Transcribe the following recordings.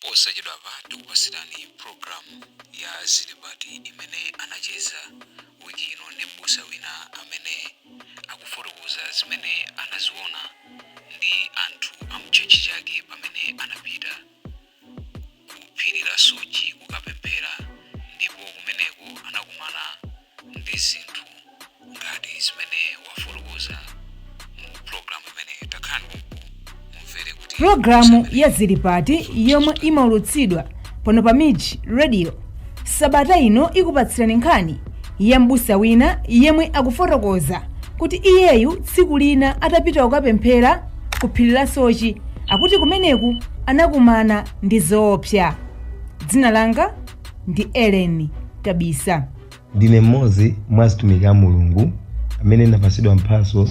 Posachedwapa tikupatsirani programu ya Zilipati imene anacheza wiki ino ndi m'busa wina amene akufotokoza zimene anaziona ndi anthu a mtchetchi chake pamene anapita ku phiri la Soche kukapemphera ndipo kumeneko anakumana ndi zinthu ngati zimene afotokoza mu programu imene takhalani mumvere kuti pulogalamu ya zilipati yomwe imaulutsidwa pano pa mij radio sabata ino ikupatsirani nkhani ya mbusa wina yemwe akufotokoza kuti iyeyu tsiku lina atapita kukapemphera ku phiri la soche akuti kumeneko anakumana ndi zoopsa dzina langa ndi Ellen Kabisa. Ndine mmodzi mwa atumiki a Mulungu amene ndapatsidwa mphatso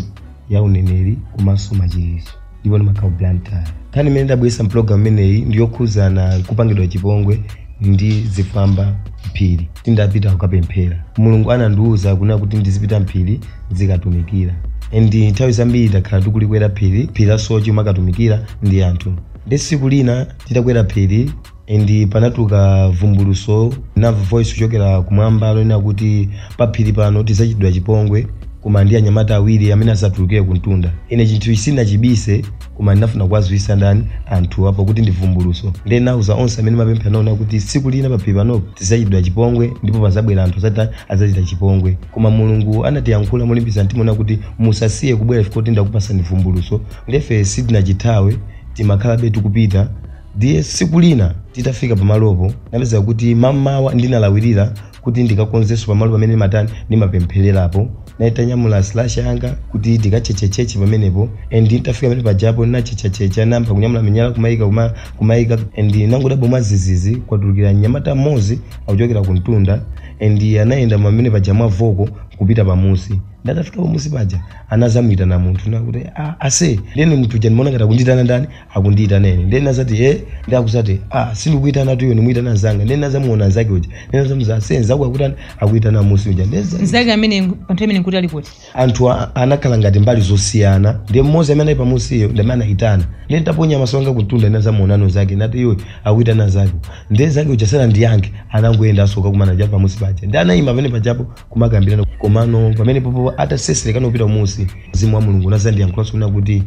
ya uneneri komanso machiritso ndipo ndimakhala ku Blantyre. Nkhani imene ndabweretsa mpulogalamu imeneyi ndi yokhudzana kupangidwa chipongwe ndi zigawenga mphiri titapita kukapemphera. Mulungu anandiwuza kunena kuti ndizipita mphiri ndizikatumikira. And nthawi zambiri takhala tikulikwera phiri, phiri la Soche kumakatumikira ndi anthu. Ndiye tsiku lina titakwera phiri And panatuluka vumbuluso ndinamva voice kuchokera kumwamba lonena kuti paphiri pano tizachitidwa chipongwe koma ndi anyamata awiri amene azatulukire kumtunda ine chinthu ichi sindinachibise koma ndinafuna kuwadziwitsa ndani anthu apo kuti ndi vumbuluso ndiye ndinauza onse amene ndimapemphera nawo kunena kuti tsiku lina paphiri panopo tizachitidwa chipongwe ndipo pazabwera anthu azati azatichita chipongwe koma mulungu anatiyankhula molimbisa mtima kunena kuti musasiye kubwera chifukwa choti ndakupasani vumbuluso nde ife sitinachithawe timakhalabe tikupita Ndiye tsiku lina titafika pamalopo ndinapeza kuti mamawa ndinalawirira kuti ndikakonzenso pamalo pamene ndimatani ndimapemphererapo nditanyamula slasher yanga kuti ndikatchetchetchetche pamenepo and nditafika pamene pajapo ndinatchetchatchetcha ndinayamba kunyamula miyala kumayika kuma- kumayika and ndinangodabwa mwazizizi kwatulukira mnyamata mmodzi akuchokera ku mtunda and anayenda pamene paja mwa voko kupita pamusi nde atafika pamusi paja anazamuyitana munthu kunena kuti "Ah, aise ndiyeno munthu uja ndimaona ngati akunditana ndani akundiyitana ine ndiye ndinazati e ndiye akuzati a sindikuyitanatu iwe ndikumuyitana nzanga ndiye ndinazamuona nzake uja ndiye ndinazamuuza aise nzako akutani akuyitana musi uja ndiye nzake- nzake amene pa nthawi imene nkuti ali kuti anthu a- anakhala ngati mbali zosiyana ndiye mmodzi amene anali pamusiyo ndi amene anayitana ndiye nditaponya maso anga kuntunda ndinazamuonano nzake ndati iwe akuyitana nzako ndiye nzake uja sanandiyankhe anangoyenda azokakumana pamusi paja ndiye anayima pamene pajapo kumakambirana komano pamenepopo atatsetsereka kupita musi mzimu wa mulungu unazandiyankhulanso kunena kuti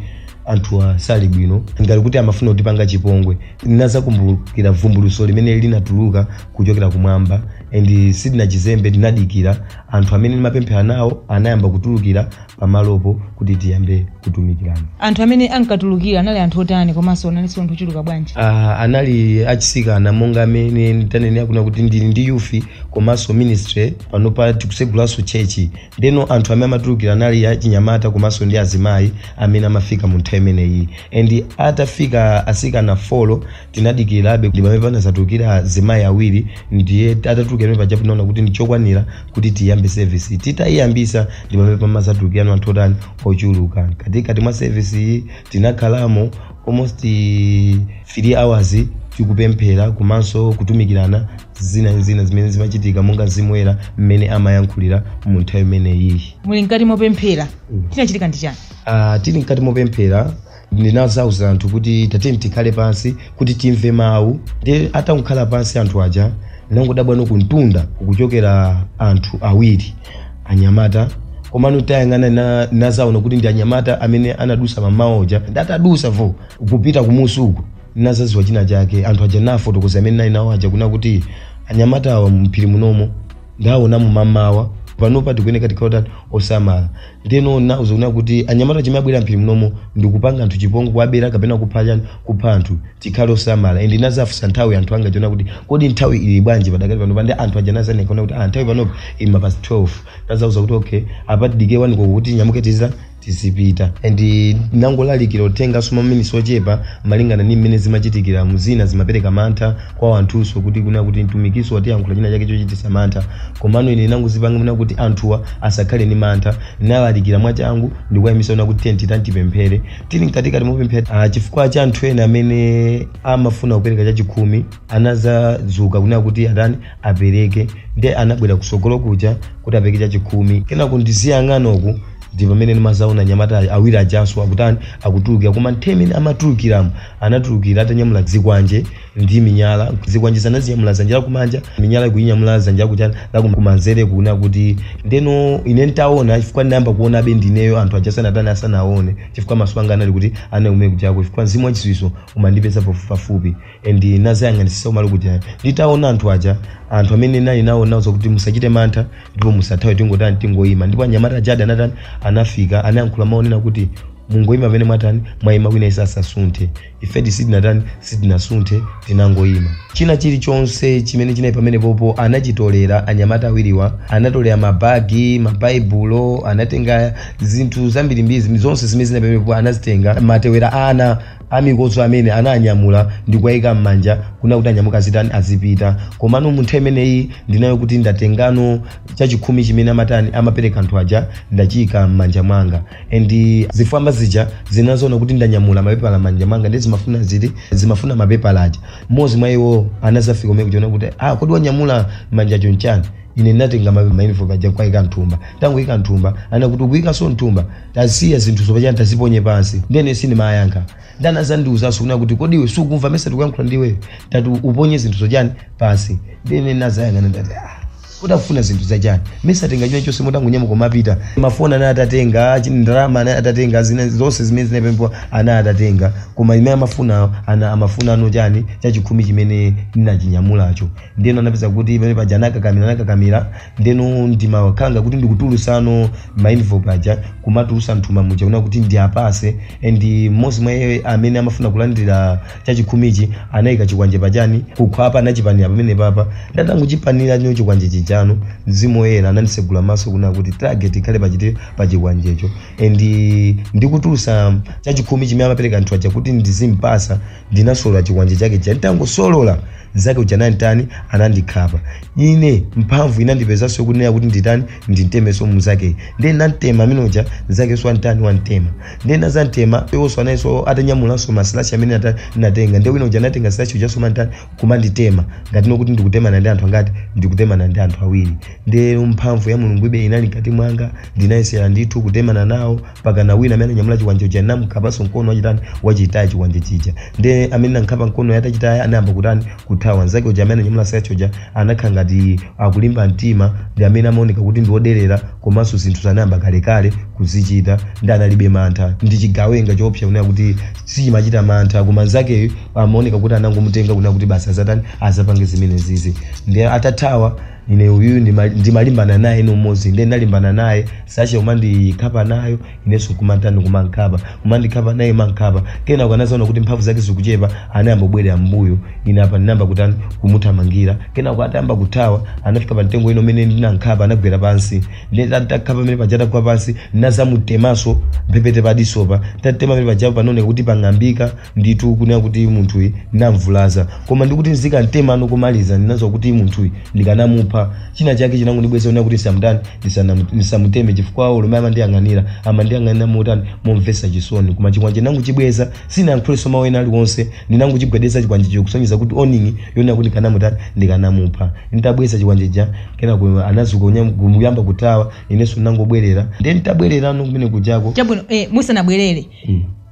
anthuwa sali bwino ngati kuti amafuna kutipanga chipongwe ndinazakumbukira vumbuluso limene linatuluka kuchokera kumwamba and sindinachizembe ndinadikira anthu amene ndimapemphera nawo anayamba kutulukira pamalopo kuti tiyambe kutumikirana anthu amene ankatulukira anali anthu otani komanso analinso anthu ochuluka bwanji Ah, anali achisikana monga amene tanenera kuna kuti ndili ndi youth komanso ministry pano pa tikusegulanso tchechi ndeno anthu amene amatulukira anali achinyamata komanso ndi azimayi amene amafika mu nthawi imeneyi and atafika asikana folo tinadikirabe ndi pamene panazatulukira azimayi awiri ndiye atatulukira pajapo naona kuti ndichokwanira kuti tiyambe service titayiyambisa ndi pamene panazatulukirano anthu otani ochuluka mkatikati mwa service iyi tinakhalamo almost 3 hours tikupemphera komanso kutumikirana zina ndi zina zimene zimachitika monga mzimu woyera mmene amayankhulira mu nthawi imeneyiyi muli mkati mopemphera chinachitika ndi chani Ah, tili mkati mopemphera ndinazauza anthu kuti tateni tikhale pansi kuti timve mawu ndiye atangokhala pansi anthu aja ndinangodabwano kumtunda kukuchokera anthu awiri anyamata komano tayang'ana na- nazaona kuti ndi anyamata amene anadusa mamawa uja ndi atadusapo kupita kumusi uku nazaziwa china chake anthu aja nafotokoza amene nali nawo aja kuna kuti anyamata awa mphiri munomo ndaonamo mamawa panopa tikuyeneka tikhale otani osamala ndeno nauza kuna kuti anyamata chimene abwera mphiri mnomo ndikupanga anthu chipongwe kuwabera kapena kupha chani kupha anthu tikhale osamala and inazafunsa nthawi anthu anga aja kuna kuti kodi nthawi ili bwanji padakali panopa nde anthu aja anazanena kuna kuti ah nthawi panopa ili ma past 12 nazauza kuti okay apa tidike wani koloko kuti tinyamuke tiza tizipita and nangolalikira uthengaso ma minutes ochepa malingana ndi mmene zimachitikiramu zina zimapereka mantha kwa anthunso kuti kunena kuti mtumikinso watiyankhula china chake chochititsa mantha komano ine ndinangozipanga kunena kuti anthuwa asakhale ndi mantha ndinalalikira mwachangu ndikuwaimitsa kunena kuti tiyeni titani tipemphere tili mkatikati mopemphera ah, chifukwa cha anthu ena amene amafuna kupereka chachikhumi anazadzuka kunena kuti atani apereke ndi anabwera kusogolo kuja kuti apereke chachikhumi kenako ndiziyang'ana uku ndi pamene ndimazaona anyamata ayi- awiri ajanso akutani akutulukira koma nthawi imene amatulukiramo anatulukira atanyamula zikwanje ndi minyala zikwanjezo anazinyamula zanja lakumanja minyala akuyinyamula zanja lakuchani lakumanzere kuna kuti ndeno ine ntaona chifukwa ndinayamba kuonabe ndineyo anthu aja sanatani asanaone chifukwa maso anga anali kuti anaume kujako chifukwa mzimu wachiziwiso umandipeza pafu- pafupi and nazayang'anisisa umali kuja nditaona anthu aja anthu amene nali nawo nazauza kuti musachite mantha ndipo musathawe tingotani tingoyima ndipo anyamata aja ada anatani anafika anayankhula mawu onena kuti mungoyima pamene mwatani mwayima wina asasunthe ifedi sitinatani sitinasunthe tinangoyima china chilichonse chimene chinali pamenepopo anachitolera anyamata awiriwa anatolera mabagi mabaibulo anatenga zinthu zambirimbiri zimene- zonse zimene zinali pamenepopo anazitenga matewera ana amikodzo amene ananyamula ndikuwayika m'manja kuna kuti anyamuke azitani azipita komano mu nthawi imeneyi ndinayo kuti ndatengano chachikhumi chimene amatani amapereka anthu aja ndachiyika m'manja mwanga and zifwamba zija zinazaona kuti ndanyamula mapepala m'manja mwanga ndi zimafuna ziti zimafuna mapepala aja mmodzi mwa iwo anazafika kumene kuchiona kuti ah kodi wanyamula m'manjacho n'chani ine ndinatenga ma- ma envelope aja kuwaika mthumba tangoika mthumba anakuti ukuikanso mthumba tasiya zinthuzo pachani taziponye pansi ndene sindimayankha nde anazandiuzanso kuna kuti kodi iwe sukumva mesa tikuyankhula ndiwe tati uponye zinthuzo chani pansi ndene nazayang'ana ndati ah kodi akufuna zinthu zachani mesa atenga china chonse mutangonyamuka kumapita mafoni anali atatenga chini ndalama anali atatenga zina zonse zimene zinali pompo anali atatenga koma imene amafuna ana amafunano chani chachikhumi chimene ndinachinyamulacho ndeno anapeza kuti pamene paja anakakamira anakakamira ndeno ndimakhala ngati kuti ndikutulusano ma envelope aja kumatulusa mthumba muja kuna kuti ndiwapase and mmodzi mwa iye amene amafuna kulandira chachikhumichi anaika chikwanje pachani kukhwapa anachipanira pamenepapa nde atangochipanira nyo chikwanje chijano mzimu woyera anandisegula maso kuna kuti target ikhale pachiti pachikwanjecho and ndikutulusa chachikhumi chimene amapereka anthu aja kuti ndizimpasa ndinasolola chikwanje chake chija nditangosolola mzake uja ananditani anandikhapa ine mphamvu inandipezanso kunena kuti nditani ndintemenso mzake ndiye ndantema amene uja mzakenso antani wantema ndinazamtema iwonso analinso atanyamulanso masilashi amene ata- anatenga ndiye wina uja anatenga silashi ujanso kumantani kumanditema ngatino kuti ndikutemana ndi anthu angati ndikutemana ndi anthu awiri ndiye mphamvu ya mulungu ibe inali mkati mwanga ndinayesera ndithu kutemana nawo pakana wina amene anyamula chikwanje uja namkhapanso mkono wachitani wachitaya chikwanje chija ndiye amene nankhapa mkono atachitaya anayamba kutani kuthawa. Mnzake uja amene ananyamula silashi uja anakhala ngati akulimba mtima ndi amene amaoneka kuti ndi woderera komanso zinthuzi anayamba kalekale kuzichita ndi analibe mantha ndi chigawenga choopsa kunena kuti sichimachita mantha koma mnzakeyu amaoneka kuti anangomutenga kunena kuti basi azatani azapange zimenezizi ndi atathawa ine uyu ndima- ndimalimbana naye ndi mmodzi ndiye ndalimbana naye silashi kumandikhapa nayo Inenso nkumantani ndikumankhapa, kumandikhapa naye mankhapa, kenako anazaona kuti mphamvu zake zikuchepa anayamba kubwerera m'mbuyo, ine apa ndinayamba kutani kumuthamangira, kenako atayamba kuthawa anafika pa mtengo wina umene ndinankhapa anagwera pansi, ndiye ta tankhapa pamene paja atagwa pansi ndinazamutemanso mphepete pa disopa, tatema pamene paja panaoneka kuti pang'ambika, nditu kunena kuti munthuyi ndinamvulaza koma ndikuti ndikamtemano komaliza ndinadziwa kuti munthuyi ndikanamupha china chake chinangondibweza kunena kuti ndisamutani ndisana- ndisamuteme chifukwa olo momwe amandiyang'anira amandiyang'anira motani momvesa chisoni koma chikwanje ndinangochibweza sinayankhulenso mawu ena aliwonse ndinangochigwedeza chikwanjecho kusonyeza kuti warning yonena kuti ndikanamutani ndikanamupha nditabweza chikwanje chija kenako anazuka kunya- kuyamba kuthawa inenso ndinangobwerera ndiye nditabwererano kumene kujako chabwino eh, musanabwerere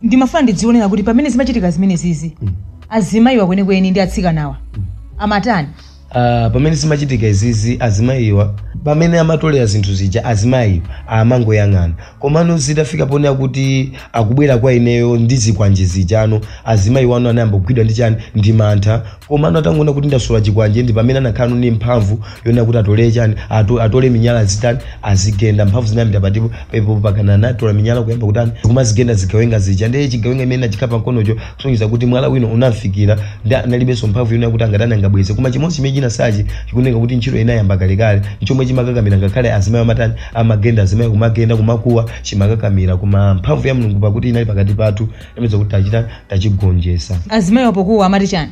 ndimafuna ndidzionera kuti pamene zimachitika zimenezizi azimayiwa kwenikweni ndi atsikanawa amatani Ah, pamene zimachitika izizi azimayiwa pamene amatolera zinthu zija azimayiwa amangoyang'ana komano zitafika ponena kuti akubwera kwa ineyo ndi zikwanje zijano azimayiwano anayamba kugwidwa ndi chani ndi mantha Komano atangoona kuti ndasolola chikwanje ndi pamene anakhalano ndi mphamvu yonena kuti atole chani ato, atole minyala azitani azigenda mphamvu zinayambira pati pompo mpakana anatola minyala kuyamba kutani kumazigenda zigawenga zija ndiye chigawenga imene nachikhapa mkonocho kusonyeza kuti mwala wina unamfikira ndi analibenso mphamvu yonena kuti angatani angabweze koma chimodzi chimene chinasala chikuoneka kuti ntchito inayamba kalekale nchomwe chimakakamira ngakhale azimayi amatani amagenda azimayi kumagenda kumakuwa chimakakamira koma mphamvu ya Mulungu pakuti inali pakati pathu tapeza kuti tachita tachigonjesa azimayiwo pokuwa amati chani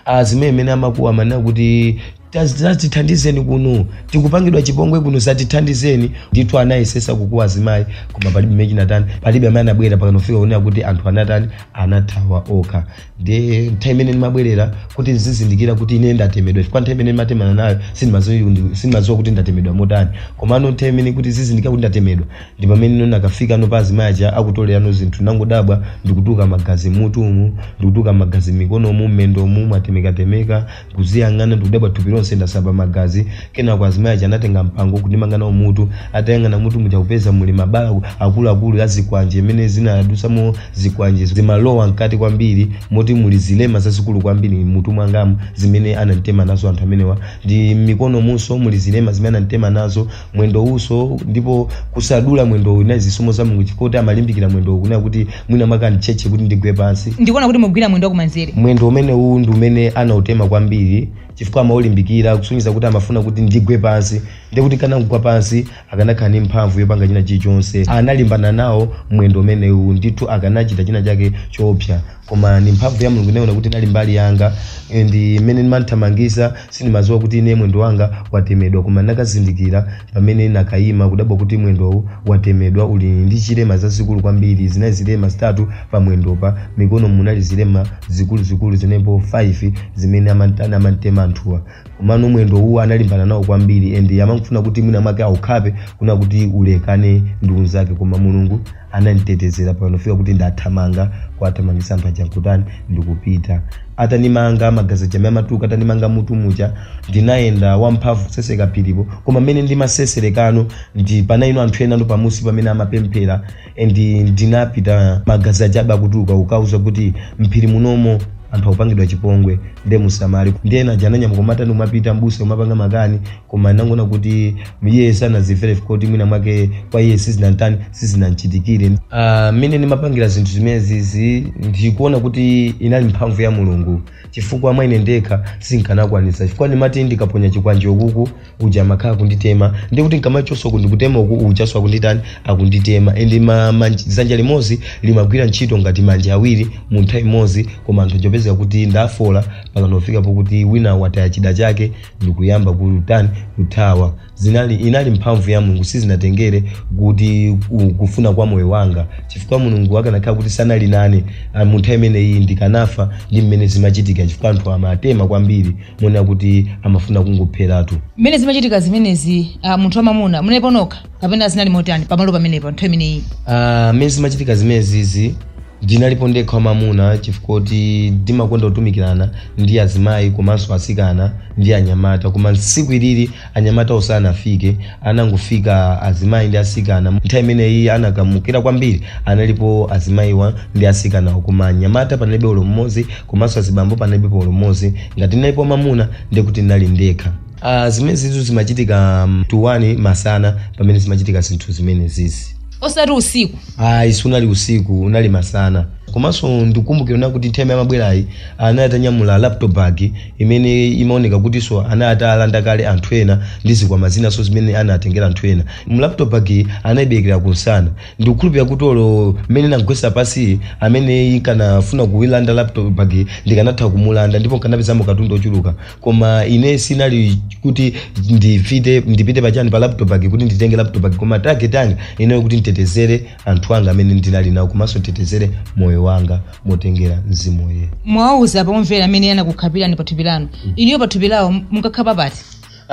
azimayi amene amakuwa amanena kuti "Taz- zatithandizeni kuno tikupangidwa chipongwe kuno zatithandizeni ndithu anayesesa kukuwa azimayi koma palibe chimene chinatani palibe amene anabwera mpakana kufika kunena kuti anthu anatani anathawa okha ndi nthawi imene ndimabwerera kuti ndizizindikira kuti ine ndatemedwa chifukwa nthawi imene ndimatemana nayo sindimaziwa kuti ndatemedwa motani komano nthawi imene kuti ndizizindikira kuti ndatemedwa ndipamene nakafikano pa azimayi aja akutolerano zinthu nangodabwa ndikutuluka magazi mmutumu ndikutuluka magazi mmikonomu mmendomu mwatemekatemeka kuziyang'ana ndikudabwa thupi lonse ndasamba magazi kenako azimayi aja anatenga mpango kundimanga nawo mutu atayang'ana mmutu muja kupeza muli mabala akuluakulu a zikwanje imene zinadusamo zikwanje zimalowa mkati kwambiri moti muli zilema zazikulu kwambiri mmutu mwangamu zimene ananditema nazo anthu amenewa ndi mmikonomunso muli zilema zimene ananditema nazo mwendowunso ndipo kusadula mwendowu inali zisomo za mulungu chifukwa kuti amalimbikira mwendowu kunena kuti mwina mwake anditchetche kuti ndigwe pansi ndikuona kuti mukugwira mwendo wakumanzere mwendo umenewu ndi umene anautema kwambiri chifukwa amaulimbikira kusonyeza kuti amafuna kuti ndigwe pansi ndiye kuti ndikanangogwa pansi akanakhala ndi mphamvu yopanga china chilichonse analimbana nawo mwendo umenewu ndithu akanachita china chake choopsa koma ni mphamvu ya mulungu naiona kuti inali mbali yanga and mmene ndimamthamangisa sindimaziwa kuti ine mwendo wanga watemedwa koma nakazindikira pamene nakayima kudabwa kuti mwendowu watemedwa uli ndi chilema zazikulu kwambiri zinali zilema zitatu pa mwendopa mmikono munali zilema zikuluzikulu zinepo 5 zimene amantana amantema anthuwa komano mwendo uwu analimbana nawo kwambiri and amafuna kuti mwina mwake aukhape kunena kuti ulekane ndi unzake koma mulungu ananditetezera pano fika kuti ndathamanga kuwathamangisa anthu aja nkutani ndikupita atanimanga magazi aja amatuluka atanimanga mutu muja ndinayenda wamphamvu kuseseka phiri koma mmene ndimaseserekano ndi panali anthu enanso pamusi pamene amapemphera and ndinapita magazi aja aba akutuluka kukawauza kuti mphiri munomo anthu akupangidwa chipongwe nde musamale nde ena aja ananyamuka kumatani kumapita mbusa yo amapanga makani koma anangoona kuti iye sanazimvere kuti mwina mwake kwa iye sizinantani sizinamchitikire Ah, mmene ndimapangira zinthu zimenezizi ndikuona kuti inali mphamvu ya mulungu chifukwa mwa ine ndekha sinkanakwanisa chifukwa ndimati ndikaponya chikwanje ukuku uja amakhala akunditema ndikuti ndikamachoka kundikutema uku ujaso akunditani akunditema ende ma, ma, dzanja limodzi limagwira ntchito ngati manja awiri mu nthawi imodzi koma anthu aja kupezeka kuti ndafoola pakanofika pokuti wina wataya chida chake ndikuyamba kutani kuthawa zinali inali mphamvu ya mulungu sizinatengere kuti ku- kufuna kwa moyo wanga chifukwa mulungu akanakhala kuti sanali nane ah, mu nthawi imeneyi ndikanafa ndi mmene zimachitika chifukwa anthu amatema kwambiri monena kuti amafuna kungopheratu mmene zimachitika zimenezi ah, munthu wamamuna munalipo nokha kapena zinali motani pamalo pamenepo nthawi imeneyi Ah, mmene zimachitika zimenezizi ndinalipo ndekha wamamuna chifukwa kuti ndimakonda kutumikirana ndi azimayi komanso asikana ndi anyamata koma tsiku ilili anyamata osanafike anangofika azimayi ndi asikana nthawi imeneyi anakamukira kwambiri analipo azimayiwa ndi asikanawo koma anyamata panalibe ulo mmodzi komanso azibambo panalibe ulo mmodzi ngati ndinalipo wamamuna ndikuti ndinali ndekha Uh, zimenezitu zimachitika um, 1 masana pamene zimachitika zinthu zimenezizi osati usiku ayi sunali usiku unali masana komanso ndikumbukira kuti nthawi amabwerayi anali atanyamula laptop bag imene imaoneka kutinso anali atalanda kale anthu ena ndi zikwama zinanso zimene anatengera anthu ena mu laptop bag iyi anayiberekera kunsana ndikukhulupirira kuti olo mmene namgwesa pasi amene nkanafuna kuilanda laptop bag iyi ndikanatha kumulanda ndipo nkanapezamo katundu ochuluka koma ine sinali kuti ndipite ndipite pachani pa laptop bag kuti nditenge laptop bag koma target yanga inali yo kuti nditetezere anthu anga amene ndinali nawo komanso nditetezere moyo wanga motengera mzimu woyera mwawauza omvera amene anakukhapirani pathupi lanu inuyo pathupi lawo munkakhapa pati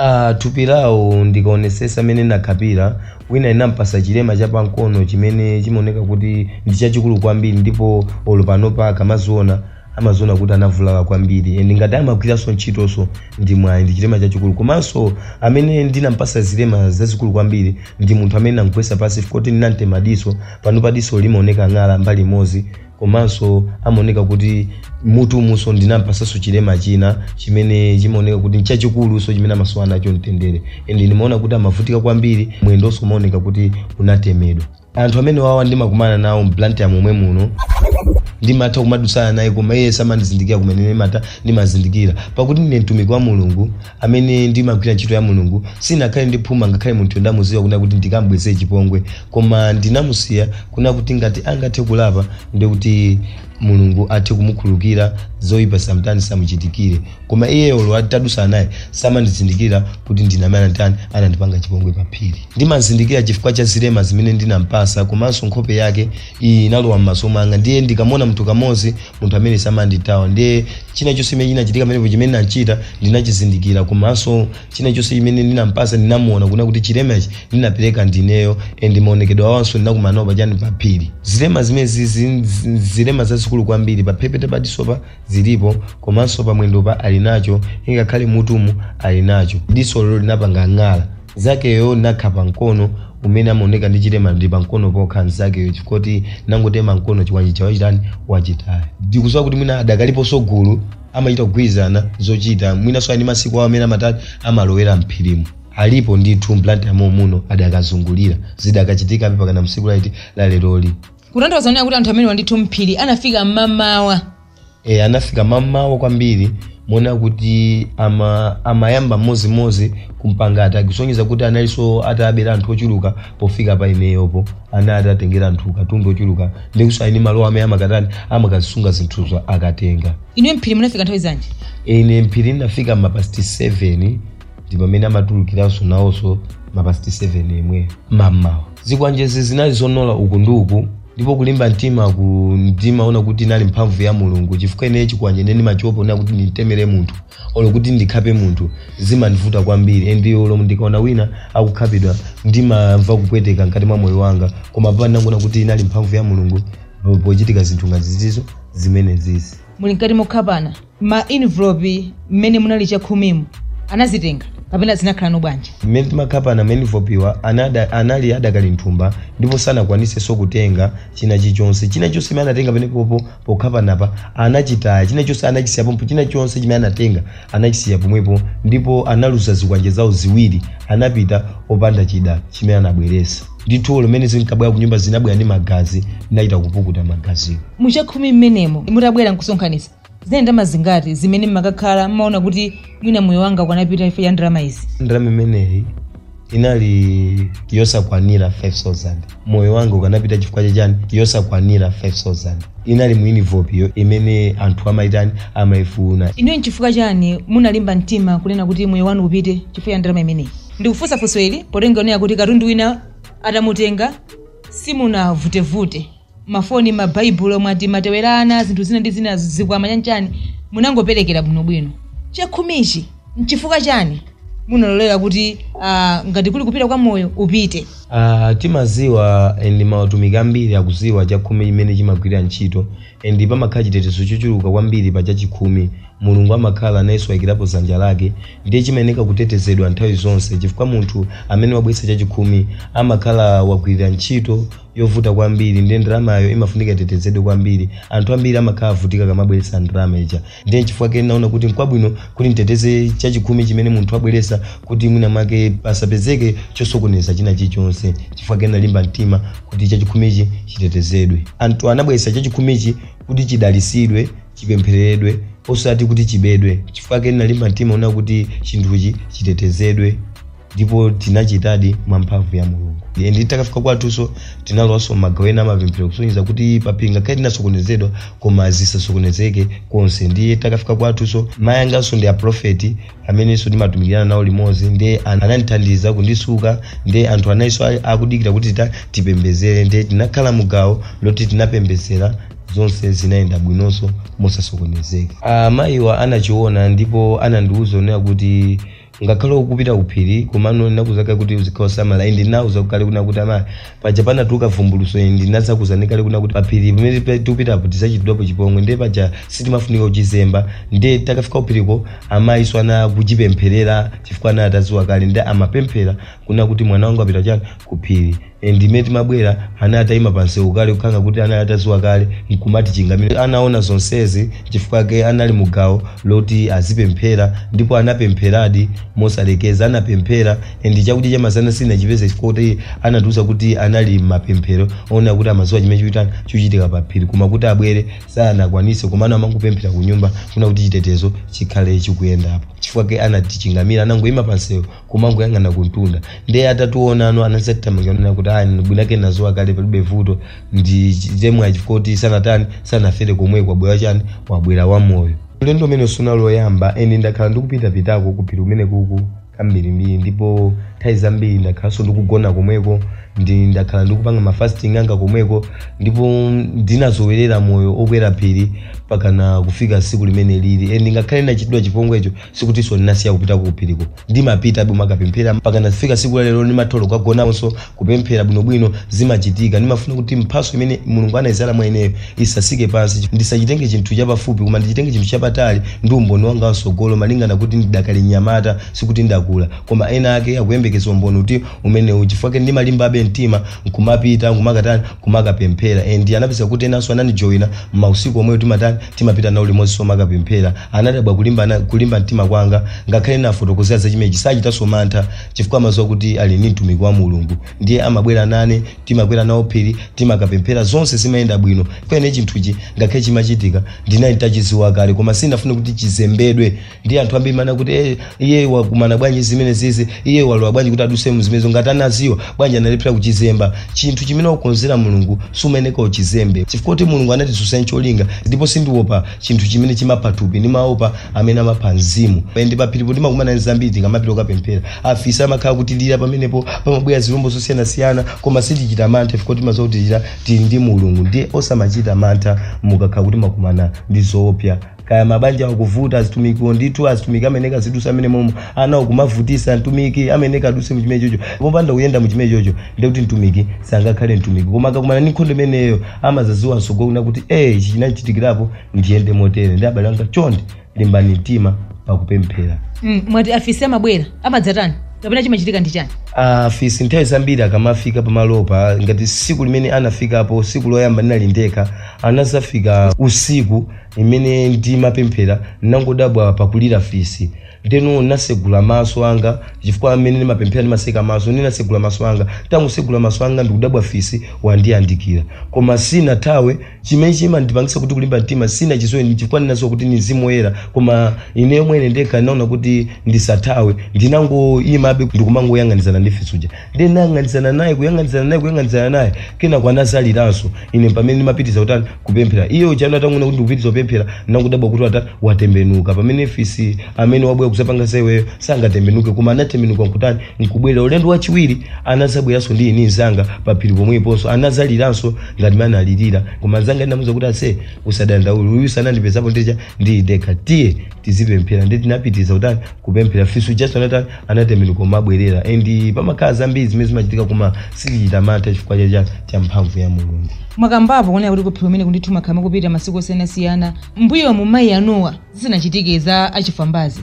Ah, thupi lawo ndikaonesesa amene nakhapira wina ndinampasa chilema cha pankono chimene chimaoneka kuti ndi chachikulu kwambiri ndipo olo panopa akamaziona amaziona kuti anavulala kwambiri and ngati amagwiranso ntchitonso ndi mwayi ndi chilema chachikulu komanso amene ndinampasa zilema zazikulu kwambiri ndi munthu amene namgwesa pasi chifukwa kuti ndinamtema diso panopa diso limaoneka ng'ala mbali imodzi komanso amaoneka kuti mutu umunso ndinampasanso chilema china chimene chimaoneka kuti nchachikulu so chimene amasowa nacho mtendere and ndimaona kuti amavutika kwambiri mwendonso umaoneka kuti unatemedwa anthu amene wawa ndimakumana nawo mBlantyre momwe muno ndimatha kumadutsana naye koma iye samandizindikira kumene ndimata ndimazindikira pakuti ndine mtumiki wa mulungu amene ndimagwira ntchito ya mulungu sindinakhale ndi phuma ngakhale munthu ndamuziwa kuna kuti ndikambwezere chipongwe koma ndinamusiya kuna kuti ngati angathe kulapa ndikuti mulungu athe kumukhulukira zoyipa zisamutani zisamuchitikire koma iye olo atadutsana naye samandizindikira kuti ndine amene anatani anandipanga chipongwe pa phiri ndimazindikira chifukwa cha zilema zimene ndinampasa komanso nkhope yake iyi inalowa m'maso mwanga ndiye ndikamona munthu kamodzi munthu amene samanditawa ndiye china chonse chimene chinachitika pamenepo chimene ndinachita ndinachizindikira komanso china chonse chimene ndinampasa ndinamuona kuna kuti chilemechi ndinapereka ndineyo and maonekedwe awanso ndinakumanawo pachani pa phiri zilema zimene zizi zilema zazikulu kwambiri pa mphepete pa disopa zilipo komanso pamwendopa ali nacho ingakhale m'mutumu ali nacho diso lelo linapanga ng'ala mnzakeyo ndinakhapa mkono umene amaoneka ndi chilema ndi pa mkono pokha mzakeyo chifukwa choti ndinangotema mkono chikwanje chawo chitani wachitaya ndikusowa kuti mwina adakaliponso gulu amachita kugwirizana zochita mwinanso ali masiku awo amene amatati amalowera mphirimo alipo ndithu mBlantyre momuno adakazungulira zidakachitikabe mpakana tsiku lati laleroli kutanthauza kunena kuti anthu amenewa ndithu mphiri anafika mmamawa e, anafika mamawa kwambiri moona kuti ama, amayamba mmodzi-modzi kumpanga attack kusonyeza kuti analinso atabera anthu ochuluka pofika pa ineyopo anali atatengera anthu katundu ochuluka ndikusowa ine malo amene amakatani amakazisunga zinthuzo akatenga inuyo mphiri munafika nthawi zanji ine mphiri ndinafika mapasti 7 ndi pamene amatulukiranso nawonso mapasti 7 yemwe mamawa zikwanjezi zinali zonola uku ndi uku ndipo kulimba mtimaku ndimaona kuti inali mphamvu ya mulungu chifukwa ineyo chikwanje ine ndimachopa kunena kuti ndimtemere munthu olo kuti ndikhape munthu zimandivuta kwambiri and olo ndikaona wina akukhapidwa ndimamva kupweteka mkati mwa moyo wanga koma papa ndinangoona kuti inali mphamvu ya mulungu po- pochitika zinthu ngati zizizo zimene zizi muli mkati mokhapana ma envelope mmene munali chakhumimo anazitenga kapena zinakhalano bwanji mmene timakhapana ma envelope wa anada- anali adakali mthumba ndipo sanakwanisenso kutenga china chilichonse china chonse chimene anatenga pamenepopo pokhapanapo anachitaya china chonse anachisiya pompo china chonse chimene anatenga anachisiya pomwepo ndipo analuza zikwanje zawo ziwiri anapita opanda chida chimene anabweresa ndithu mmene zinkabwera kunyumba zinabwera ndi magazi ndinachita kupukuta magaziwo muchakhumi mmenemo mutabwera nkusonkhanitsa Zinali ndalama zingati zimene mmakakhala mmaona kuti mwina moyo wanga ukanapita chifukwa cha ndalama izi? ndalama imeneyi inali yosakwanira 5000 moyo wanga ukanapita chifukwa chachani yosakwanira 5000 inali mu inivilopiyo imene anthu amayitani amayifuna Inuyo nchifukwa chani munalimba mtima kunena kuti moyo wanu upite chifukwa cha ndalama imeneyi? Ndikufunsa funso ili potengera kunena kuti katundu wina atamutenga simunavutevute. mafoni mabaibulo mwati matewera ana zinthu zina ndi zina zikwama chani chani munangoperekera bwinobwino chakhumichi nchifukwa chani munalolera kuti ah, ngati kuli kupita kwa moyo upite Ah, timaziwa ndi mautumiki ambiri akuziwa chakhumi chimene chimagwirira ntchito and pamakhala chitetezo chochuluka kwambiri pa chachikhumi mulungu amakhala nayenso ayikirapo dzanja lake ndiye chimayeneka kutetezedwa nthawi zonse chifukwa munthu amene wabweretsa chachikhumi amakhala wagwirira ntchito yovuta kwambiri ndiye ndalamayo imafunika itetezedwe kwambiri anthu ambiri amakhala avutika akamabweretsa ndalama ija ndiye nchifukwa chake ndinaona kuti nkwabwino kuti nditeteze chachikhumi chimene munthu abweretsa kuti mwina mwake pasapezeke chosokoneza china chilichonse chifukwa chake ndinalimba mtima kuti chachikhumichi chitetezedwe anthu anabweretsa chachikhumichi kuti chidalisidwe chipemphereredwe osati kuti chibedwe chifukwa chake ndinalimba mtima kunena kuti chinthuchi chitetezedwe ndipo tinachitadi mwa mphamvu ya mulungu Ndiye titakafika kwathunso tinalowanso magawo ena amapemphero kusonyeza kuti paphiri ngakhale tinasokonezedwa koma zisasokonezeke konse ndiye titakafika kwathunso mayi anganso ndi aprofeti amenenso ndimatumikirana nawo limodzi ndiye an- anandithandiza kundisuka ndiye anthu analinso a- akudikira kuti tita tipembezere ndiye tinakhala mugawo loti tinapembezera zonse zinayenda bwinonso mosasokonezeka amayiwa anachiona ndipo anandiwuza kunena kuti Ngakhale ukupita kuphiri komano ndinakuuza kale kuti uzikhala osamala and ndinauza kale kunena kuti amayi paja panatuluka vumbuluso and ndinazakuuzani kale kunena kuti paphiri pamene tipe- tikupitapo tizachitidwapo chipongwe ndiye paja sitimafunika kuchizemba ndiye titakafika kuphiriko amayinso anali akuchipempherera chifukwa anali ataziwa kale ndiye amapemphera kunena kuti mwana wanga apita chani kuphiri and mmene timabwera anali atayima pa msewu kale kukhala ngati kuti anali ataziwa kale nkumatichingamira anaona zonsezi chifukwa chake anali mu gawo loti azipemphera ndipo anapempheradi mosalekeza anapemphera and chakudya cha masana sitinachipeze chifukwa kuti anatiuza kuti anali m'mapemphero kunena kuti amaziwa chimene chikufuna kuchitika pa phiri koma kuti abwere sanakwanise komano amangopemphera ku nyumba kunena kuti chitetezo chikhale chikuyendapo chifukwa chake anatichingamira anangoyima pa msewu kumangoyang'ana kumtunda ndiye atatiwonano anazatithamangirana kuti ayi mwinake nazowa kale palibe vuto ndi chimwemwe chifukwa choti sanatani sanafere komweko wabwera chani wabwera wamoyo ulendo umenewu sunali oyamba ayi ndakhala ndikupitapitako kuphiri kumeneku kambirimbiri ndipo nthawi zambiri ndakhalanso ndikugona komweko ndi ndakhala ndikupanga mafasting anga komweko ndipo ndinazowerera moyo okwera phiri pakana kufika tsiku limeneli e ngakhale ndinachitidwa chipongwecho sikutinso ndinasiya kupita ku phiriko ndimapita bwino kumakapemphera mpaka kufika tsiku la lero ndimatha kukagonanso kupemphera bwinobwino zimachitika ndimafuna kuti mphatso imene mulungu anayidzala mwa ineyo isatsike pansi ndisachitenge chinthu chapafupi koma ndichitenge chinthu chapatali ndi umboni wanga wamtsogolo malingana kuti ndidakali mnyamata sikuti ndakula koma ena ake akuyembekeza umboni oti umenewu chifukwa chake ndimalimbabe mtima nkumapita nkumakatani kumakapemphera and anapeza kuti enanso anandijoyina mausiku omweyo timatani timapita nawo limodzi kumakapemphera anadabwa kulimba mtima kwanga ngakhale ndawafotokozera za chimenechi sachitanso mantha chifukwa amadziwa kuti ali ndi mtumiki wa mulungu ndiye amabwera nane timakwera nawo phiri timakapemphera zonse zimayenda bwino kwenikweni chinthuchi ngakhale chimachitika ndinali nditachidziwa kale koma sinafune kuti chizembedwe ndi anthu ambiri mwina kuti eh, iye wakumana bwanji zimenezizi iye walowa bwanji kuti adutse mu zimenezo ngati anadziwa bwanji analephera kuchizemba chinthu chimene wakonzera mulungu sumayeneka uchizembe chifukwa choti mulungu anatidutsitsa ncholinga ndipo sindiopa chinthu chimene chimapha thupi ndimaopa amene amapha mzimu ndiye paphiripo timakumana ndi zambiri tikamapita kukapemphera afisi amakhala akutilira pamenepo pamabwera zilombo zosiyanasiyana koma sitichita mantha chifukwa timadziwa kuti tili ndi mulungu ndiye osamachita mantha mukakhala kuti mwakumana ndi zoopsa kaya mabanja akuvuta azitumikiwo ndithu azitumiki amayeneka azidutsa mmenemomo ana akumavutitsa mtumiki amayeneka adutse muchimene chocho popanda kuyenda muchimene chocho ndekuti mtumiki sangakhale mtumiki koma akakumana ndi nkhondo imeneyo amadzadziwa mtsogolomu kuti e ichi chinachitikirapo ndiyende motere ndiye abale anga chonde limbani mtima pakupemphera Mm, mwati afisi amabwera amadzatani kapena chimachitika ndi chani afisi nthawi zambiri akamafika pamalopa ngati tsiku limene anafikapo tsiku loyamba ndinali ndekha anadzafika usiku mmene ndimapemphera ndinangodabwa pakulira fisi ndeno ndinatsegula maso anga chifukwa mmene ndimapemphera ndimatseka maso ndinatsegula maso anga nditangotsegula maso anga ndikudabwa fisi wandiyandikira koma sinathawe chimene chimandipangitsa kuti kulimba mtima sindinachidziwe chifukwa ndinadziwa kuti ni mzimu woyera koma ine mwene ndekha ndinaona kuti ndisathawe ndinangoyimabe ndikumangoyang'anizana ndi fisi uja ndiye ndinayang'anizana naye kuyang'anizana naye kuyang'anizana naye kenako anadzaliranso ine pamene ndimapitiriza kutani kupemphera iye uja atangoona kuti ndikupitiriza kupemphera ndinangodabwa kuti watani watembenuka pamene fisi amene wabwera kudzapanga za iweyo sangatembenuke koma anatembenuka nkutani nkubwerera ulendo wachiwiri anadzabweranso ndili ndi mnzanga pa phiri pomweponso anadzaliranso ngati mmene analirira koma mnzanga ndinamuuza kuti ase usadandaule uyu anandipezapo ndekha ndiye dekha tiye tizipemphera ndiye tinapitiriza kutani kupemphera fisi ujanso anatani anatembenuka kumabwerera and pamakhala zambiri zimene zimachitika koma sitichita mantha chifukwa cha- cha cha mphamvu ya mulungu mwakambapo kunena kuti kuphiri umene kundithu makhala mukupita masiku osiyanasiyana mbuyo mu mayi anuwo zisanachitike za achifambazi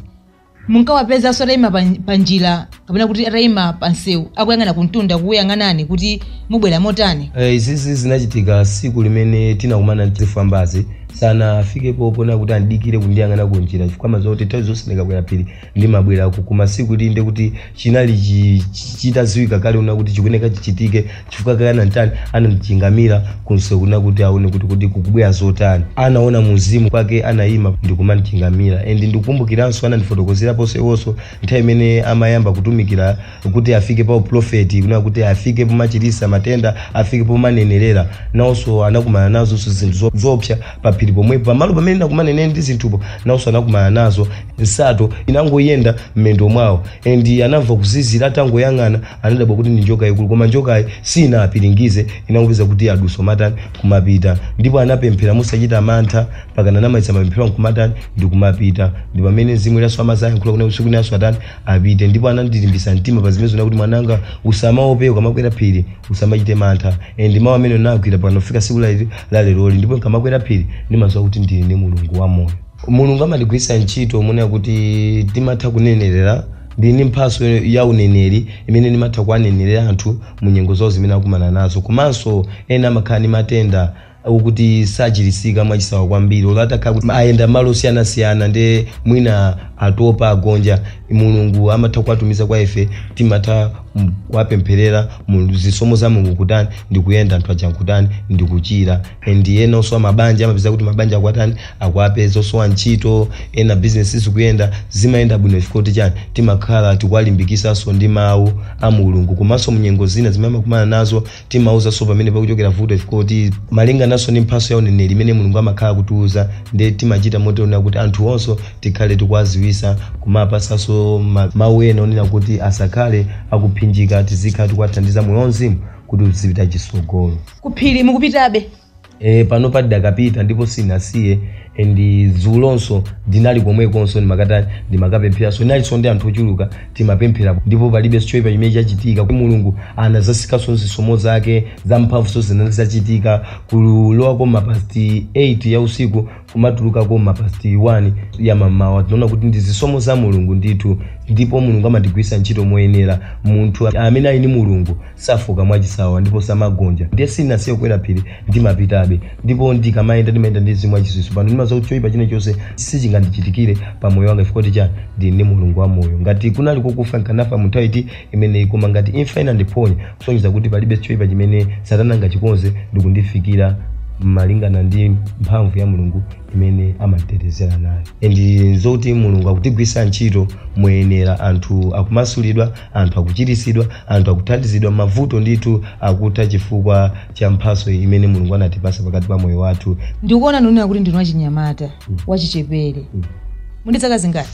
munkawapezanso atayima pa- pa njira kapena kuti atayima pa msewu akuyang'ana kumtunda kukuyang'anani kuti mubwera motani Eh, izizi zinachitika siku limene tinakumana ndi zifambazi sanafikepo ponena kuti andidikire kundiyang'ana kunjira chifukwa amaziwa zoti nthawi zonse ndikabwera phiri ndimabwera ku- kum'mawa siku ili nde kuti chinali chi- chi- chitadziwika kale kunena kuti chikuyeneka chichitike chifukwa kale ananditani anandichingamira kunsewu kufuna kuti aone kuti kuti kukubwera zotani anaona mumzimu nchake anayima ndikumandichingamira and ndikukumbukiranso anandifotokozeraponso iwonso nthawi imene amayamba kutumikira kuti afike pa uprofeti kunena kuti afike pomachirisa matenda afike pomanenerera nawonso anakumana nazonso zinthu zo- zoopsa pa phiri pomwepo pamalo pamene nakumana ineyo ndi zinthupo nawonso anakumana nazo nsato inangoyenda mmendo mwawo and anamva kuzizira atangoyang'ana anadabwa kuti ndi njoka yaikulu koma njokayi sinapiringize inangopezeka kuti yadutsa nkumatani kumapita ndipo anapemphera osachita mantha mpakana anamaliza mapemphero nkumatani ndi kumapita ndi pamene mzimu woyera amazayankhula kunena kuti siku linanso atani apite ndipo anandilimbisa mtima pa zimenezi kuti mwananga usamaope ukamakwera phiri usamachite mantha and mawu amenewo nagwira mpakana kufika siku la la leroli ndipo nkamakwera phiri ndimaziwa kuti ndili ndi mulungu wa moyo mulungu amatigwiritsa ntchito monena kuti timatha kunenerera ndili ndi mphaso ya uneneri imene ndimatha kuwanenerera anthu mu nyengo zawo zimene akumana nazo komanso ena amakhala ndi matenda okuti sachilisika mwachisawawa kwambiri olo atakhala kuti ayenda malo osiyanasiyana nde mwina atopa agonja mulungu amatha kuwatumiza kwa ife timatha m- kuwapempherera mu zisomo za mulungu nkutani ndikuyenda anthu aja nkutani ndikuchira and ena osowa mabanja amapezeka kuti mabanja akwatani akuwapeza osowa ntchito ena bizinesi sizikuyenda zimayenda bwino chifukwa kuti chani timakhala tikuwalimbikisanso ndi mawu a mulungu komanso mnyengo zina zimene amakumana nazo timauzanso pamene pakuchokera vuto chifukwa kuti malingananso ndi mphatso ya uneneri imene mulungu amakhala akutiuza nde timachita moonetsetsa kuti anthuwonso tikhale tikuwaziwisa kumapatsanso ma- mawu ena onena kuti asakhale akuphinjika tizikhala tikuwathandiza moyo wauzimu kuti uzipita chisogolo kuphiri mukupitabe E, panopa tidakapita ndipo sindinasiye and dzulonso ndinali komwekonso ndimakatani ndimakapempheranso ndinalinso ndi anthu ochuluka timapemphera ndipo palibe choipa chimene chachitika kuti mulungu anazasikanso nzisomo zake zamphamvunso zinazachitika kulowako mapasti 8 ya usiku kumatulukako m'ma past 1 ya mammawa tinaona kuti ndi zisomo za mulungu ndithu ndipo mulungu amatigwiritsa ntchito moyenera munthu amene ali ndi mulungu safoka mwachisawawa ndipo samagonja ndiye sinasiye kukwera phiri ndimapitabe ndipo ndikamayenda ndimayenda ndi mzimu wachisomo pano ndimadziwa kuti choyipa china chilichonse sichingandichitikire pa moyo wanga chifukwa tichani ndili ndi mulungu wa moyo ngati kunali kokufa nkanafa mu nthawi iti imeneyi koma ngati imfa inandiphonya kusonyeza kuti palibe choipa chimene Satana angachikonze ndi kundifikira malingana ndi mphamvu ya mulungu imene amatitetezera nayo and zoti mulungu akutigwiritsa ntchito moyenera anthu akumasulidwa anthu akuchiritsidwa anthu akuthandizidwa mavuto ndithu akutha chifukwa cha mphatso imene mulungu anatipasa pakati pa moyo wathu ndikuona mukuoneka kuti ndinu wachinyamata wachichepere muli ndi zaka zingati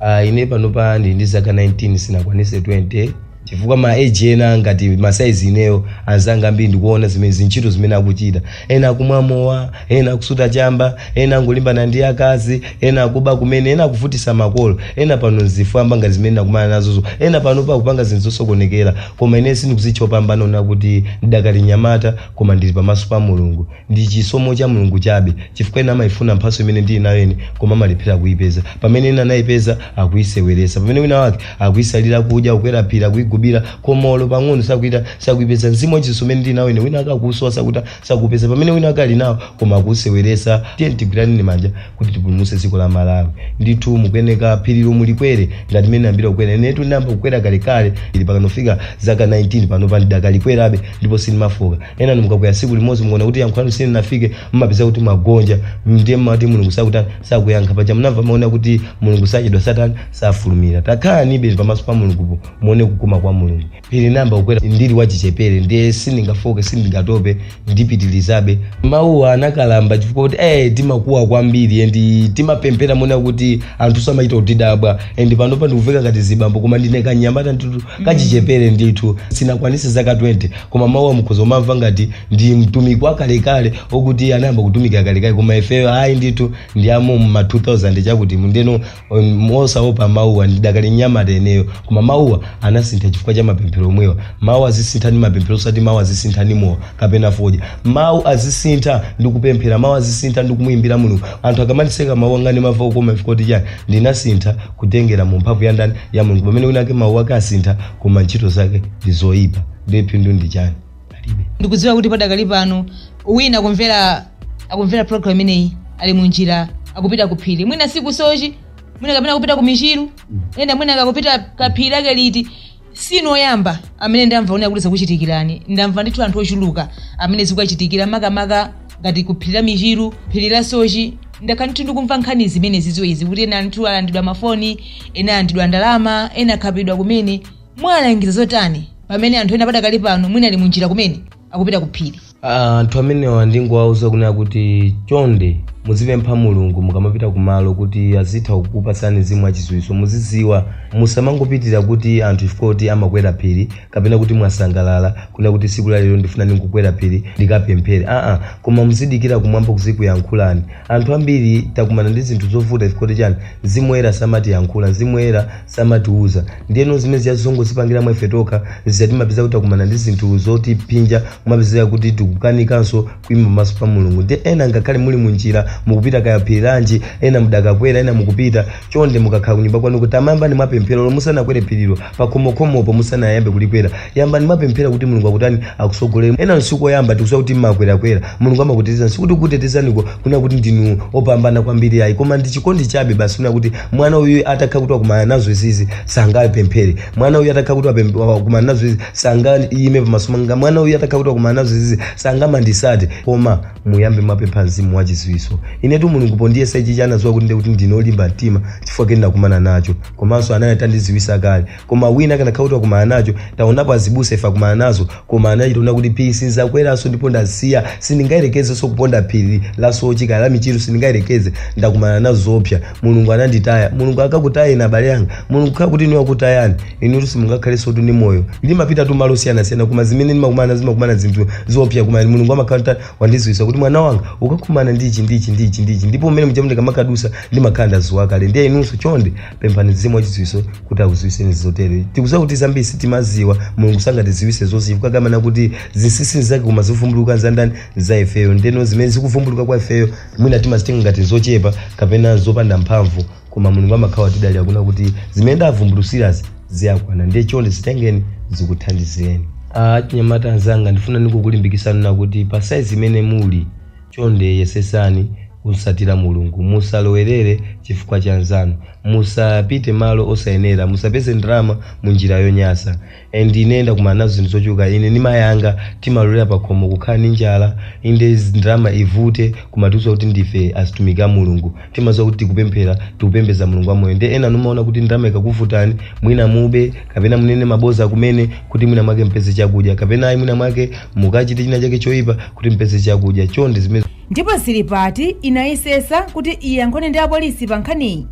uh, ine panopa ndili ndi zaka 19 sinakwanise 20 chifukwa ma age ena ngati masaizi inewo anzanga ambiri ndikuona zimene zintchito zimene akuchita ena akumwa mowa ena akusuta chamba ena akulimbana ndi akazi ena akuba kumene ena akuvutisa makolo ena pano ndi zifwamba ngati zimene nakumana nazozo ena pano akupanga zinthu zosokonekera koma ine sindikuzitcha opambana kunena kuti ndidakali nyamata koma ndili pamaso pa mulungu Ndi chisomo cha Mulungu chabe chifukwa ena amaifuna mphatso imene ndili nayo ine koma amalephera kuipeza. Pamene ena anaipeza akuiseweretsa. Pamene wina wake akuisalira kudya, kukwera phiri, akuigubira koma olo pang'ono sakutani sakuipeza. Mzimu wa chisomo umene ndili nawo ine wina wake akuusowa sakutani sakuupeza pamene wina wake ali nawo koma akuuseweretsa. Tiyeni tigwiraneni manja kuti tipulumutse dziko la Malawi. Ndithu mukuyeneka phirilo mulikwere ngati mmene ndinayambira kukwera. Inetu ndinayamba kukwera kalekale phiri mpakana kufika zaka 19 panopa ndidakalikwerabe ndipo sindimafoka. ena inu mukakwera tsiku limodzi mukaona kuti yankho lanu silinafike mumapeza kuti mwagonja ndiye mumati mulungu sakutani sakuyankha paja munamva mau onena kuti mulungu sachedwa samatani safulumira takhalanibe pamaso pa mulungupo muone kukoma kwa mulungu phiri ndinayamba kukwera ndili wachichepere ndiye sindingafoke sindingatope ndipitilizabe mawuwa anakalamba chifukwa kuti eh timakuwa kwambiri endi timapemphera moti kuti anthu samachita kutidabwa endi panopa ndikuveka ngati zibambo koma ndine kanyamata ndithu kachichepere ndithu sinakwanise zaka 20 koma mawuwa mukhoza kumamva ngati ndi mtumiki wakalekale okuti iye anayamba kutumikira kalekale koma ifeyo ayi ndithu ndi amu ma 2000 chakuti muno um, osaopa mawuwa ndidakali nyamata ineyo koma mawuwa anasintha chifukwa cha mapemphero omwewa mawu azisintha ndi mapemphero osati mawu azisintha ndi mowa kapena fodya mawu azisintha ndi kupemphera mawu azisintha ndi kumuyimbira mulungu anthu akamandiseka mawu anga ndimamva kukoma chifukwa chiyani ndinasintha kutengera mu mphamvu ya ndani ya mulungu pamene wina ake mawu ake asintha koma ntchito zake ndi zoyipa ndiye phindu ndi chani palibe ndikudziwa kuti padakali pano wina akumvera akumvera program imeneyi ali mu njira akupita ku phiri mwina siku sochi mwina kapena kupita ku michiru ena mwina akupita kaya phiri lake liti sinu oyamba amene ndamva kunena kuti zakuchitikirani ndamva ndithu anthu ochuluka amene zikuwachitikira makamaka ngati ku phiri la michiru phiri la sochi ndakhala ndithu ndikumva nkhani zimene zizo izi kuti ena anthu alandidwa mafoni ena alandidwa ndalama ena akhapidwa kumene muwalangiza zotani pamene anthu ena padakali pano mwina ali munjira kumene akupita ku phiri Ah, anthu amenewa ndingowauza kunena kuti chonde muzipempha mulungu mukamapita kumalo kuti azitha kukupatsani mzimu wachidziwitso muzidziwa musamangopitira kuti anthu chifukwa kuti amakwera phiri kapena kuti mwasangalala kunena kuti tsiku la lero ndifuna ndikukwera phiri ndikapemphere aa koma muzidikira kumwamba kuzikuyankhulani anthu ambiri takumana ndi zinthu zovuta chifukwa kuti chani mzimu woyera samatiyankhula mzimu woyera samatiuza ndeno zimene zija zongozipangira mwa ife tokha zija timapeza kuti takumana ndi zinthu zotiphinja kumapezeka kuti tikukanikanso kuima pamaso pa mulungu ndi ena ngakhale muli munjira mukupita kaya phiri lanji ena mudakakwera ena mukupita chonde mukakhala kunyumba kwanu kutiyamba yambani mwapemphera lomwe musanakwere phirilo pakhomokhomopo musanayambe kulikwera yambani mwapemphera kuti mulungu akutani akusogolere ena si koyamba tikuziwa kuti mmakwerakwera mulungu amakutetezani sikuti kutetezaniko kuna kuti ndinu opambana kwambiri ayi koma ndi chikondi chabe basi kuna kuti mwana uyu atakha kuti wakumana nazo izizi sangapemphere mwana uyu atakha kuti wapem- wa- wakumana nazo izi sangayime pamaso panga mwana uyu atakha kuti wakumana nazo izizi sangamandisate koma muyambe mwapempha mzimu wa chidziwitso inetu mulungu pondiyesa ichichi anadziwa kuti ndikuti ndine olimba mtima chifukwa cha chimene ndinakumana nacho komanso anali atandidziwisa kale koma wina akanakhala kuti wakumana nacho taonapo azibusa ife akumana nazo koma anachita kunena kuti phiri sinzakweranso ndipo ndasiya sindingayerekezenso kuponda phiri la sochi kaya la michiru sindingayerekeze ndakumana nazo zoopsa mulungu ananditaya mulungu sangakutayeni abale yanga mulungu atakhala kuti inu akutayani inutu simungakhalensotu ndi moyo ndimapitatu malo osiyanasiyana koma zimene ndimakumana zimakumana zinthu zoopsa koma mulungu amakhala wandiziwisa kuti mwana wanga ukakumana ndichi ndichi ndichi ndichi ndipo mmene mchifukwa ndikamakadusa ndimakhala ndaziwa kale ndiye inunso chonde pemphani mzimu wachidziwitso kuti akudziwitseni zotere tikudziwa kuti zambiri sitimaziwa mulungu sangatidziwitse zonse chifukwa amanena kuti zinsinsi nzake koma zivumbuluka nzandani nza ifeyo ndeno zimene zikuvumbuluka kwa ifeyo mwina timazitenga ngati zochepa kapena zopanda mphamvu koma mulungu amakhala tidali akuna kuti zimene ndawavumbulutsirazi ziwakwana ndiye chonde zitengeni zikuthandizeni achinyamata anzanga ndifuna ndikulimbikitseni kuti pa saizi imene muli Chonde yesetsani kum'tsatira Mulungu. Musalowerere chifukwa cha anzanu. Musapite malo osayenera. Musapeze ndalama mu njira yonyasa. And ine ndakumana nazo zinthu zochuluka. Ine ndi mayi anga timalolera pakhomo kukhala ndi njala. Inde ndalama ivute kumatiuza kuti ndife atumiki a Mulungu. timaziwa kuti tikupemphera tikupembeza mulungu wamoyo ndiye enanu mumaona kuti ndalama ikakuvutani mwina mube kapena munene maboza kumene kuti mwina mwake mpeze chakudya kapena ayi mwina mwake mukachite china chake choyipa kuti mpeze chakudya chonde zimene ndipo Zilipati inayesesa kuti iyankhule ndi apolisi pa nkhaniyi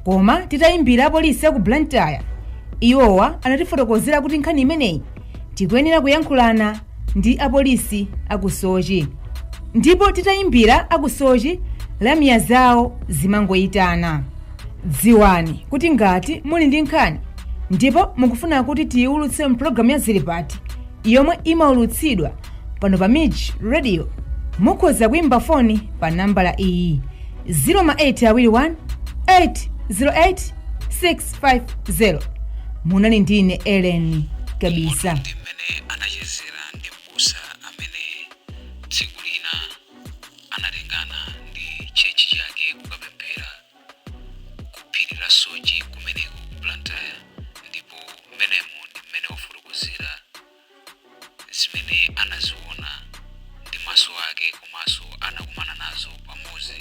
koma titayimbira apolisi aku Blantyre iwowa anatifotokozera kuti nkhani imeneyi tikuyenera kuyankhulana ndi apolisi aku Soche. Ndipo titayimbira aku Soche, lamya zawo zimangoyitana. Dziwani kuti ngati muli ndi nkhani ndipo mukufuna kuti tiyiwulutse mpulogalamu ya Zilipati yomwe imawulutsidwa pano pa MIJ Radio, mukhoza kuyimba foni pa nambala iyi 0 ma 8 awiri 1 808 650. Munali ndine Ellen Kabisa. pamene anachezera ndi m'busa amene tsiku lina anatengana ndi tchalitchi chake kukapemphera ku phiri la Soche kumeneko ku Blantyre ndipo mmenemo ndi mmene wafotokozera zimene anaziona ndi maso ake komanso anakumana nazo pamodzi